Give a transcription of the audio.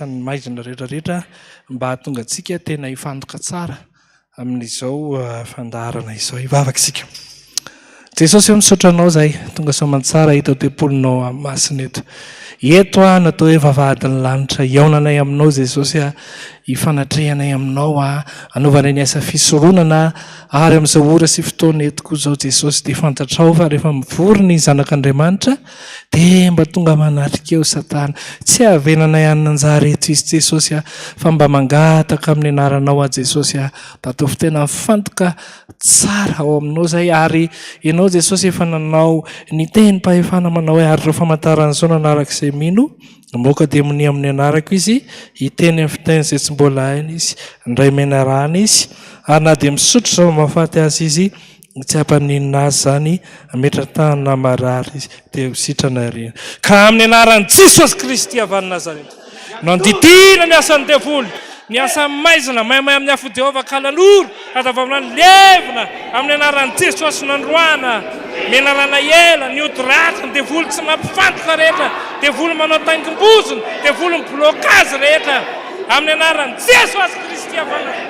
ny maizina rehetra rehetra mba hahatonga antsika tena hifantoka tsara amin'izao fandaharana izao. Hivavaka isika. Jesosy eo misaotra anao zahay tonga soamantsara hita ao tempolinao amin'ny masina eto. Eto aho natao hoe vavahadin'ny lanitra hihaonanay aminao Jesosy aho hifanatrehanay aminao aho hanaovanay ny asa fisoronana ary amin'izao ora sy fotoana eto koa izao Jesosy dia fantatrao fa rehefa mivory ny zanak'Andriamanitra Dia mba tonga manatrika eo satana. Tsy havenanay any nanjary eto izy Jesosy ah. Fa mba mangataka amin'ny anaranao aho Jesosy ah. Mba ataovy tena mifantoka tsara ao aminao izahay ary ianao Jesosy efa nanao ny tenim-pahefana manao hoe ary ireo famantaran'izao nanaraka izay mino no moka demonia amin'ny anarako izy hiteny amin'ny fiteny izay tsy mbola hainy izy indray menarana izy ary na dia misotro zava-mahafaty azy izy Tsy hapa ninona azy zany ametra tany na marary dia ho sitrana ery. Ka amin'ny anaran'i Jesosy Kristy avy any Nazareta no andidiana ny asan'ny devoly, ny asan'ny maizina maimay amin'ny afon'i Jehovah ka laloro hatavamina ny levona amin'ny anaran'i Jesosy nandroahana menarana ela ny ody ratsy ny devoly tsy mampifantoka rehetra, devoly manao taingim-bozona, devolin'ny blocage rehetra amin'ny anaran'i Jesosy Kristy avy any Nazareta.